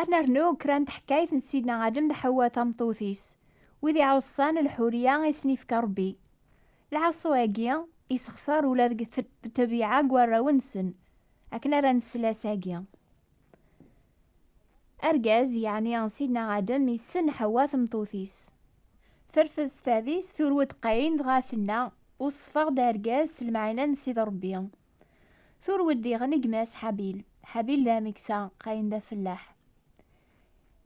ad nernu kra n teḥkayt n sidna adem d ḥewwa tameṭṭut-is wid iɛuṣan lḥuriya i sen-ifka rebbi lɛaṣu-agi isexṣar ula deg tebyiɛa n warraw-nsen akken ara nesla sagi Argaz, yeɛni Sidna Adem, yessen Ḥewwa tmeṭṭut-is. Terfed s tadist, turew-d Qayin, dɣa tenna, Weṣṣfeɣ-d argaz s lemɛina n Sidi Ṛebbi. Turew-d diɣen i gma-s Ḥabil. Ḥabil d ameksa, Qayin d afellaḥ.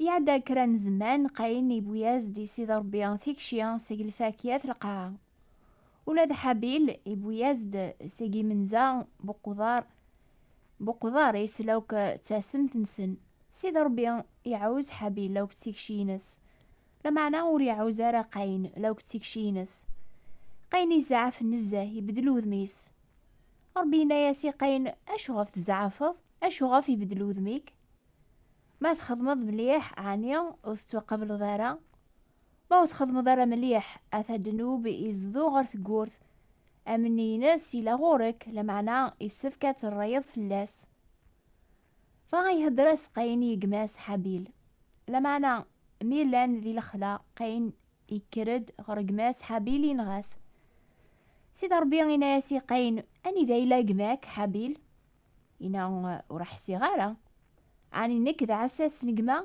Iɛedda kra n zzman, Qayin yewwi-as-d i Sidi Ṛebbi tikci seg lfakya d lqaɛa. Ula d Ḥabil iwwi-yas-d seg imenza buqḍar buqḍar isel akk d tasemt-nsen. Sidi Ṛebbi iɛuz Ḥabil akk d tikci-ines. Lameɛna ur iɛuz ara Qayen akk d tikci-ines. Qayen izeɛɛef nezzeh, ibeddel udem-is. Ṛebbi yenna-yas i Qayen, Acuɣef tzeɛɛfeḍ? Acuɣef ibeddel udem-ik? Ma txedmeḍ mliḥ, ɛni ur tettwaqableḍ ara? Ma ur txedmeḍ ara mliḥ a tadenub izdew ɣer tgurt, amni-ines yella ɣur-k, lameɛna issefk ad terrayeḍ fell-as. Dɣa ihedder-as Qayin i gma-s Habil. Lameɛna mi llan di lexla, Qayin yekker-d ɣer gma-s Habil yenɣa-t. Sidi Rebbi yenna-as i Qayin, Anida yella gma-k Habil? Ina ur ḥsiɣ ara. Ɛni nekk d ɛessas n gma?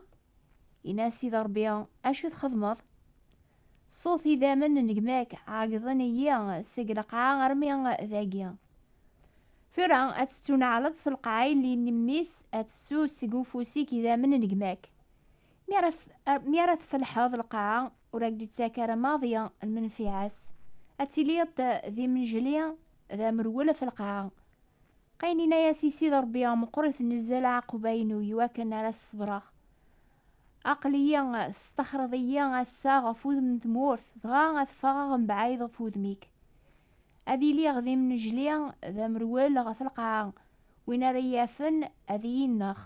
Ina Sidi Rebbi acu txedmeḍ? Ṣṣut idammen n gma-k ɛeggḍen-iyi seg lqaɛa armi d agi. Tura ad tettuneɛleḍ s lqaɛa yelli n mmi-s ad tessu seg ufus-ik idammen n gma-k. Mi ara tfelḥeḍ lqaɛa ur ak-d-ittak ara maḍi lmenfiɛa-s. Ad tiliḍ d imnejli Ad amrwel af lqaɛa. Qayen inna-yas i Sidi Rebbi, Meqqrit nezzeh leɛquba-inu i wakken ara s-ṣebreɣ. Aql-iyi testaxreḍ-iyi ass-a ɣef wudem n tmurt, dɣa ad ffɣeɣ mebɛid ɣef wudem-ik. Ad iliɣ d imnejli, d amrwel ɣef lqaɛa, win ara iyi-yafen ad iyi-ineɣ.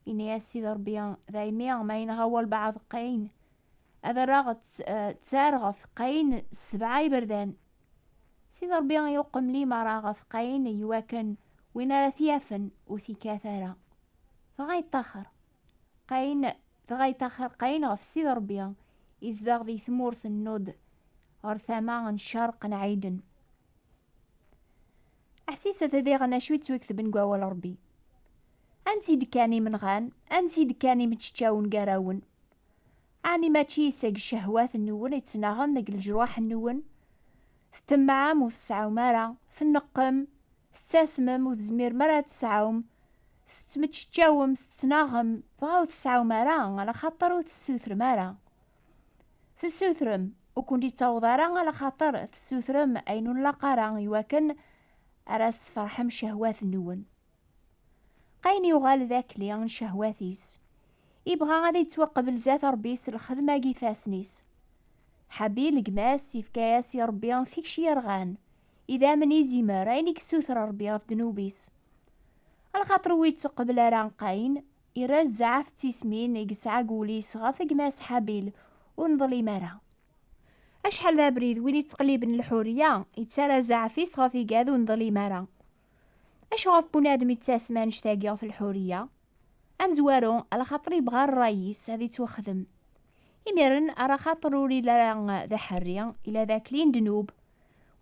Inna-yas Sidi Rebbi, Daymi ma yenɣa walbeɛḍ Qayen, ad rreɣ ttar ɣef Qayen sebɛa iberdan. Sidi Ṛebbi yuqem limaṛa ɣef Qayin i wakken win ara t-yafen ur t-ikkat ara. Dɣa yeṭṭaxer Qayin dɣa yeṭṭaxer Qayin ɣef Sidi Ṛebbi, izdeɣ di tmurt n Nod ɣer tama n ccerq n Ɛiden. Ḥsiset diɣen acu i ttwiktben deg wawal Ṛebbi. Ansi d-kkan imenɣan, ansi d-kkan imeččawen gar-awen. Ɛni mačči seg ccehwat-nwen i ttnaɣen deg leǧruḥ-nwen? Tṭemɛem ur tseɛɛum ara, tneqqem, tettasmem ur tezmirem ara ad tesɛum, tettmeččeččawem, tettnaɣem, dɣa ur tseɛɛum ara alaxaṭer ur tessutrem ara. Tessutrem, ur kent-ittaweḍ ara alaxaṭer tessutrem ayen ur nlaq ara iwakken ara tesferḥem ccehwat-nwen. Qayen yuɣal d akli n cehwat-is, ibɣa ad ittwaqbel zat Ṛebbi s lxedma n ifassen-is. Ḥabil, gma-s, ifka-yas i Ṛebbi tikci yerɣan, idammen izimer ayen i yessuter Ṛebbi ɣef ddnub-is. Lxaṭer ur ittuqbel ara Qayen, irra zzeɛf d tismin i yesɛa deg wul-is ɣef gma-s Ḥabil, ur neḍlim ara. Acḥal d abrid win yettqelliben lḥurya, yettarra zzeɛf-is ɣef igad ur neḍlim ara. Acu ɣef bunadem yettasem annect-agi ɣef lḥuriya? Amezwaru, ala xaṭer yebɣa rray-is ad yettwaxdem. Imiren, ara xaṭer ur ili ara d aḥerri, ila d akli n ddnub.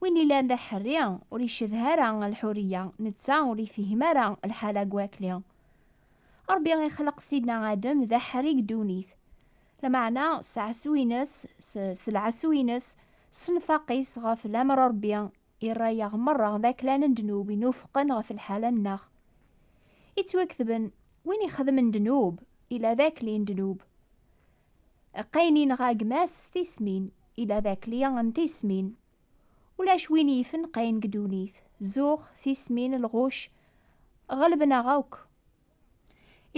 Win ilan d aḥerri, ur icedha ara lḥuriya, netta ur ifhim ara lḥala n wakli. Ṛebbi ixleq Sidna Adem d aḥerri deg ddunit. Lameɛna, s ɛasu-ines, s lɛasu-ines, s nnfaq-is ɣef lamer n Ṛebbi, i rray-aɣ merra d aklan n ddnub inufqen ɣef lḥala-nneɣ. Ittwaketben, win ixedmen ddnub, ila d akli n ddnub. Qqayen inɣa gma-s s tismin, ila d akli n tismin. Ulac win yifen qqayen deg ddunit, zuɣ, tismin, lɣuc, ɣelben-aɣ akk.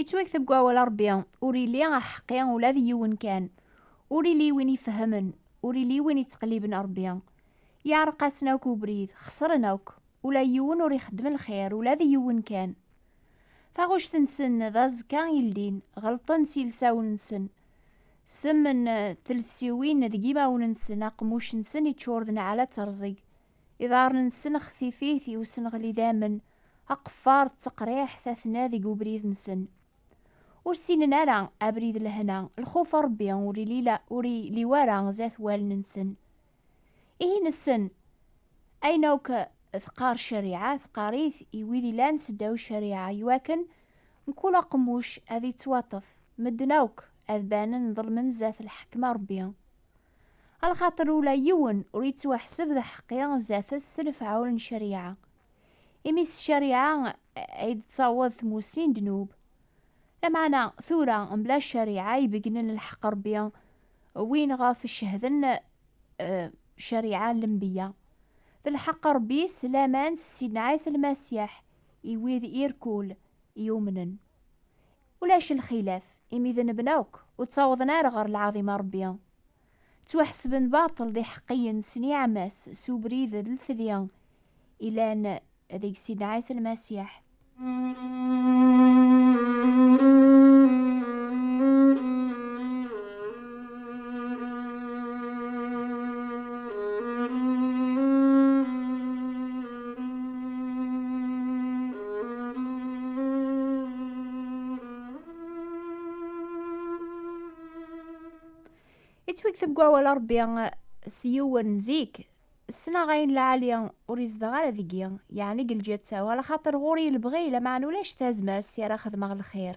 Ittwakteb deg wawal Ṛebbi, ur illi aḥeqqi ula d yiwen kan, ur illi win ifehhmen, ur illi win ittqelliben Ṛebbi. Yeɛreq-asen akk ubrid, xesren akk, ula yiwen ur ixeddem lxir, ula d yiwen kan. Taɣect-nsen d aẓekka ildin, ɣelṭen s yilsawen-nsen. Ssem n telfsiwin deg imawen-nsen, aqemmuc-nsen iččur d nneɛlat rẓeg, Iḍarren-nsen xfifit i usenɣel idamen, aqeffar d teqriḥt atna deg ubrid-nsen. Ur ssinen ara abrid lehna, lxuf n Rebbi ur ilila ur iliw ara zat wallen-nsen. Ihi nessen ayen akk teqqar ccariɛa, teqqar-it i wid ilan seddaw ccariɛa iwakken mkul aqemmuc ad ittwaṭṭef, medden akk ad banen ḍelmen zat lḥekma n Rebbi. Alxaṭer ula yiwen ur yettwaḥseb d aḥeqqi zdat-s s lefɛul n ccariɛa, imi s ccariɛa ay d-tettaweḍ tmussni n ddnub. Lameɛna, tura, mebla ccariɛa ibeggnen lḥeqq n Rebbi, win ɣef cehden ccariɛa n lenbeyya, d lḥeqq n Rebbi s laman s Sidna Ɛisa Lmasiḥ i wid irkul yumnen. Ulac lxilaf, imi d nnebna akk ur ttawḍen ara ɣer lɛaḍima n Rebbi. Ttwaḥesben baṭel d iḥeqqiyen s niɛma-s s ubrid d lfedi ilan deg Sidna Ɛisa Lmasiḥ. Yettweg deg wawal Ṛebbi s yiwen zik, ssneɣ ayen lɛali ur yezdeɣ ara deg-i, yeɛni deg lǧetta-w, ala xaṭer ɣur-i lebɣi, lameɛna ulac tazmert i ara xedmeɣ lxir.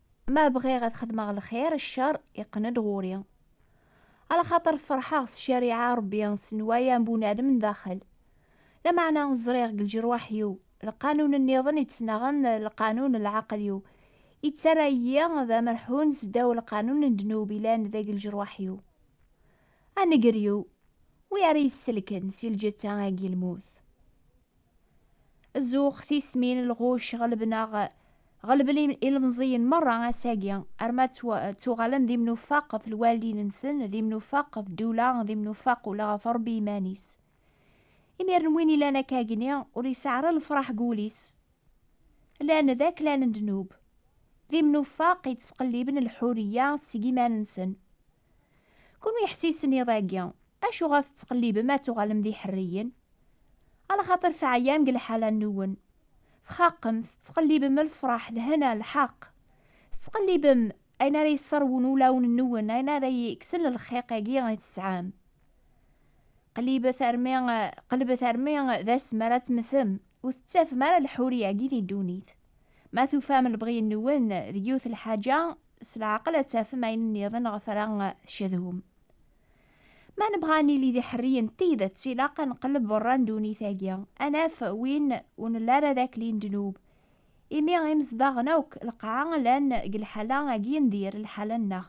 Ma bɣiɣ ad xedmeɣ lxir, ccer iqqen-d ɣur-i. Ala xaṭer ferḥeɣ s ccariɛa Ṛebbi, s nnwaya n bunadem n daxel. Lameɛna ẓriɣ deg lǧerwaḥ-iw lqanun nniḍen yettnaɣen d lqanun n lɛaqel-iw, yettarra-iyi d amerḥun seddaw lqanun n ddnub yellan deg lǧerwaḥ-iw. A nnger-iw, wi ara yi-sselken si lǧetta-agi n lmut? Zuxx tismin lɣuc ɣelben-aɣ, ɣelben ilemẓiyen merra ass-agi, arma ttuɣalen d imnufaq ɣef lwaldin-nsen, d imnufaq ɣef ddula, d imnufaq ula ɣef Rebbi iman-is. Imiren win ilan akkagni, ur yesɛi ara lefraḥ deg wul-is. Llan d aklan n ddnub, d imnufaq yettqelliben lḥuriya seg iman-nsen. Kunwi iḥsisen iḍ-agi, acuɣer tettqellibem ad tuɣalem d iḥerriyen? Alaxaṭer teɛyam deg lḥala-nwen. Txaqem, tettqellibem lefraḥ, lhena, lḥeqq. Tettqellibem ayen ara yesserwun ulawen-nwen, ayen ara yekksen lxiq-agi i tesɛam. Qellibet armi, qellbet armi d ass mi ara temmtem, ur tettafem ara lḥuriya-agi di ddunit. Ma tufam lebɣi-nwen deg yiwet lḥaǧa, S leɛqel ad tafem ayen nniḍen ɣef ara tcedhum. Ma nebɣa ad nili d iḥerriyen n tidet, ilaq ad nqelleb berra n ddunit-agi, ad naf win ur nelli ara d akli n ddnub. Imi imezdaɣen akk lqaɛa llan deg lḥala agi n dir, lḥala-nneɣ.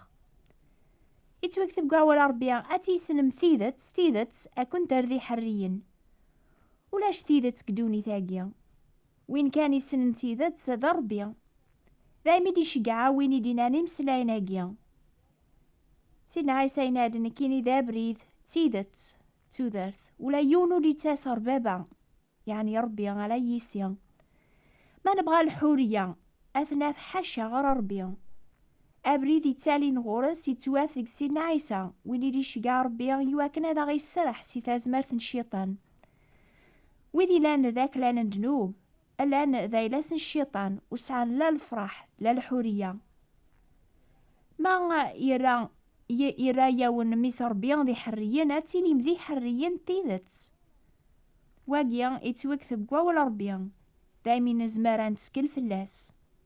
Yettwekteb deg wawal n Rebbi, Ad tissnem tidet, tidet ad kent-terr d iḥerriyen. Ulac tidet deg ddunit-agi. Win kan isnen tidet d Rebbi. Dayem i d-iceggeɛ win i d-inan imeslayen-agi. Sidna Ɛisa yenna-d, Nekkini d abrid, d tidet, d tudert. Ula yiwen ur d-yettas ɣer Baba, yeɛni Rebbi, ala yis-i. Ma nebɣa lḥuriya, ad t-naf ḥaca ɣer Rebbi. Abrid yettalin ɣur-s yettwaf deg Sidna Ɛisa, win i d-iceggeɛ Rebbi iwakken ad aɣ-iserreḥ si tazmert n Cciṭan. wid ilan d aklal n ddnub llan d ayla-s n cciṭan ur sɛan la lefraḥ la lḥuriya ma yerra yerra yawen mmis rebbi d iḥerriyen ad tilim d iḥerriyen d tidet wagi yettwekteb deg wawal rebbi daymi nezmer ad nettkel fell-as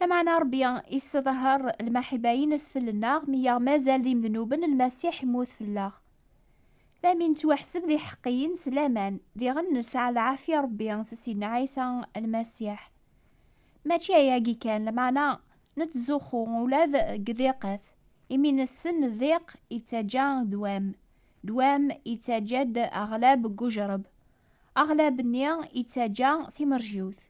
Lameɛna Ṛebbi yesseḍher lmaḥiba-ines fell-nneɣ mi yaɣ mazal d imednuben, Lmasiḥ immut fell-aɣ. La mi nettwaḥseb d iḥeqqiyen s laman, diɣen nesɛa lɛafya Ṛebbi s Sidna Ɛisa Lmasiḥ. Mačči ayagi kan, lameɛna nettzuxxu ula d deg ddiqat, imi nessen ddiq yettaǧǧa ddwam, ddwam yettaǧǧa-d aɣlab n ujeṛṛeb, aɣlab-nni yettaǧǧa timerjiwt,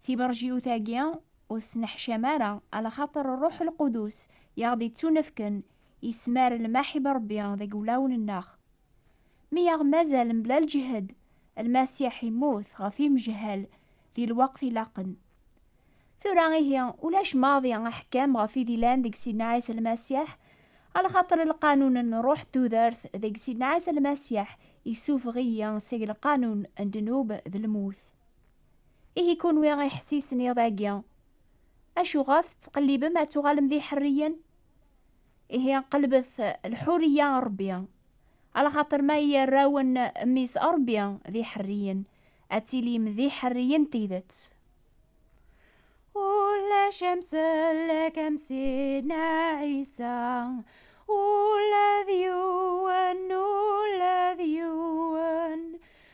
Tiberjiyut-agi ur tesneḥcam ara, alaxaṭer Ṛṛuḥ Lqudus i aɣ-d-ittunefken yesmar lmaḥ i Ṛebbi deg wulawen-nneɣ. Mi aɣ-mazal mebla lǧehd, Lmasiḥ immut ɣef imejhal di lweqt ilaqen. Tura ihi, ulac maḍi aḥkam ɣef i d-ilan deg Sidna Ɛisa Lmasiḥ, alaxaṭer lqanun n Ṛṛuḥ n tudert deg Sidna Ɛisa Lmasiḥ issufeɣ-iyi seg lqanun n ddnub d lmut. Ihi kunwi iḥessisen iḍ-agi, acu ɣef tettqellibem ad tuɣalem d iḥerriyen? Ihi qelbet lḥuriya n Rebbi, alaxaṭer ma yerra-wen Mmi-s Rebbi d iḥerriyen, ad tilim d iḥerriyen n tidet. Ulac amsellek am Sidna Ɛisa, ula d yiwen, ula d yiwen.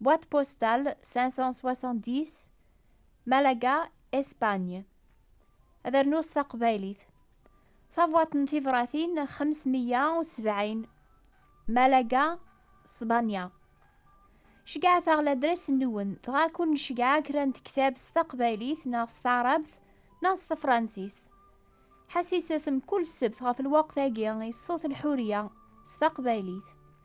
Boîte postale 570 Malaga, Espagne. Ad rnuɣ s taqbaylit. Tabwaḍt n tibratin 570 Malaga, Spanya. Ceyyɛet-aɣ ladres-nwen, dɣa ad ken-nceyyɛeɣ kra n tektab s taqbaylit neɣ s taɛrabt neɣ s tefransist. Ḥessiset mkul ssebt ɣef lweqt-agi i Ṣṣut Lḥuriya s taqbaylit.